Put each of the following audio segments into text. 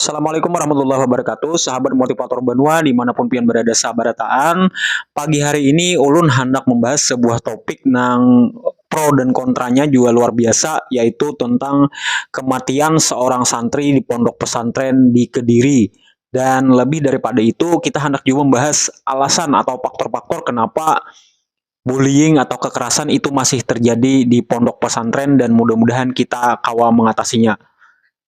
Assalamualaikum warahmatullahi wabarakatuh Sahabat motivator Banua dimanapun pian berada sabarataan Pagi hari ini ulun handak membahas sebuah topik nang pro dan kontranya juga luar biasa yaitu tentang kematian seorang santri di pondok pesantren di Kediri dan lebih daripada itu kita handak juga membahas alasan atau faktor-faktor kenapa bullying atau kekerasan itu masih terjadi di pondok pesantren dan mudah-mudahan kita kawa mengatasinya.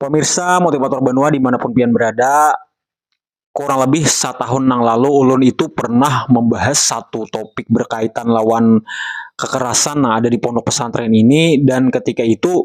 Pemirsa motivator Banua dimanapun pian berada, kurang lebih setahun nang lalu ulun itu pernah membahas satu topik berkaitan lawan kekerasan nang ada di pondok pesantren ini dan ketika itu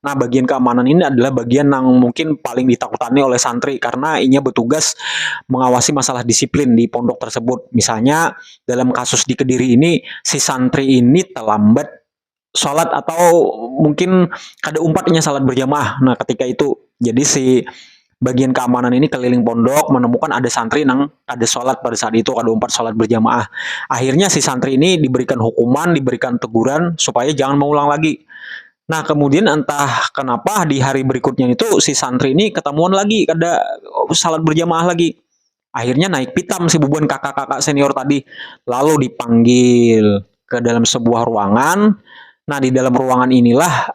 Nah, bagian keamanan ini adalah bagian yang mungkin paling ditakutani oleh santri karena inya bertugas mengawasi masalah disiplin di pondok tersebut. Misalnya dalam kasus di Kediri ini si santri ini terlambat salat atau mungkin kada umpat inya salat berjamaah. Nah, ketika itu jadi si bagian keamanan ini keliling pondok menemukan ada santri nang ada sholat pada saat itu ada umpat sholat berjamaah. Akhirnya si santri ini diberikan hukuman, diberikan teguran supaya jangan mengulang lagi. Nah kemudian entah kenapa di hari berikutnya itu si santri ini ketemuan lagi ada sholat berjamaah lagi. Akhirnya naik pitam si bubuan kakak-kakak senior tadi lalu dipanggil ke dalam sebuah ruangan. Nah di dalam ruangan inilah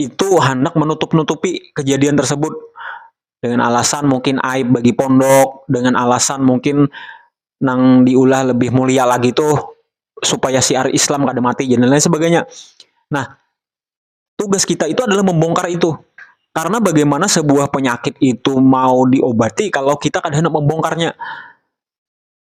itu hendak menutup-nutupi kejadian tersebut dengan alasan mungkin aib bagi pondok, dengan alasan mungkin nang diulah lebih mulia lagi tuh supaya siar Islam kada mati dan lain sebagainya. Nah, tugas kita itu adalah membongkar itu. Karena bagaimana sebuah penyakit itu mau diobati kalau kita kada hendak membongkarnya.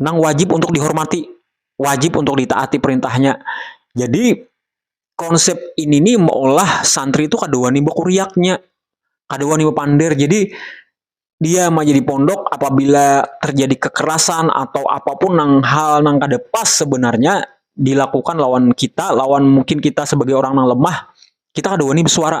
nang wajib untuk dihormati, wajib untuk ditaati perintahnya. Jadi konsep ini nih meolah santri itu kada wani bakuriaknya, kada wani bapander. Jadi dia menjadi pondok apabila terjadi kekerasan atau apapun nang hal nang kada pas sebenarnya dilakukan lawan kita, lawan mungkin kita sebagai orang nang lemah, kita kada wani bersuara.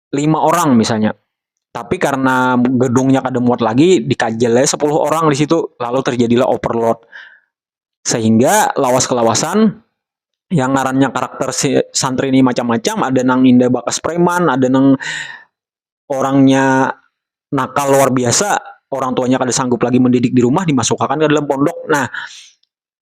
lima orang misalnya tapi karena gedungnya kada muat lagi dikajal aja 10 orang di situ lalu terjadilah overload sehingga lawas kelawasan yang ngarannya karakter si santri ini macam-macam ada nang indah bakas preman ada nang orangnya nakal luar biasa orang tuanya kada sanggup lagi mendidik di rumah dimasukkan ke dalam pondok nah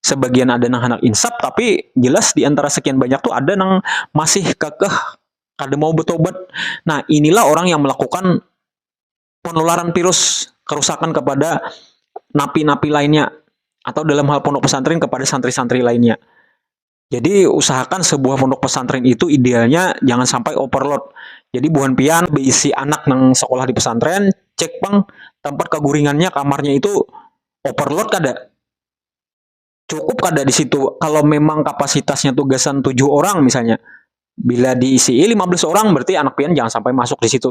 sebagian ada nang handak insap tapi jelas di antara sekian banyak tuh ada nang masih kekeh kada mau bertobat. Nah, inilah orang yang melakukan penularan virus kerusakan kepada napi-napi lainnya atau dalam hal pondok pesantren kepada santri-santri lainnya. Jadi usahakan sebuah pondok pesantren itu idealnya jangan sampai overload. Jadi buhan pian beisi anak nang sekolah di pesantren, cek pang tempat keguringannya kamarnya itu overload kada? Cukup kada di situ kalau memang kapasitasnya tuh gasan tujuh orang misalnya. Bila diisi 15 orang berarti anak pian jangan sampai masuk di situ.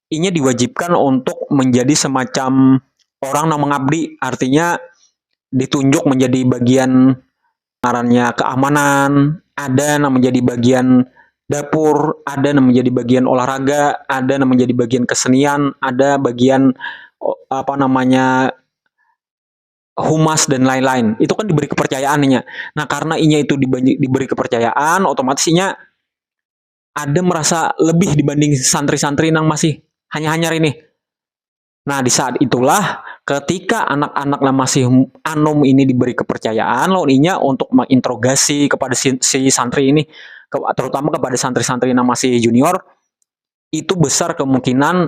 inya diwajibkan untuk menjadi semacam orang nang mengabdi artinya ditunjuk menjadi bagian ngarannya keamanan ada nang menjadi bagian dapur ada nang menjadi bagian olahraga ada nang menjadi bagian kesenian ada bagian apa namanya humas dan lain-lain itu kan diberi kepercayaan inya nah karena inya itu diberi kepercayaan otomatis inya ada merasa lebih dibanding santri-santri nang masih hanya-hanyar ini. Nah, di saat itulah ketika anak-anak yang masih anum ini diberi kepercayaan lawan inya untuk menginterogasi kepada si, si santri ini, terutama kepada santri-santri yang masih junior, itu besar kemungkinan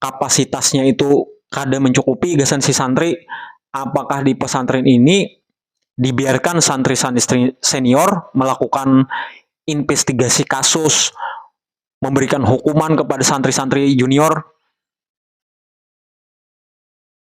kapasitasnya itu kada mencukupi gasan si santri, apakah di pesantren ini dibiarkan santri-santri senior melakukan investigasi kasus, memberikan hukuman kepada santri-santri junior.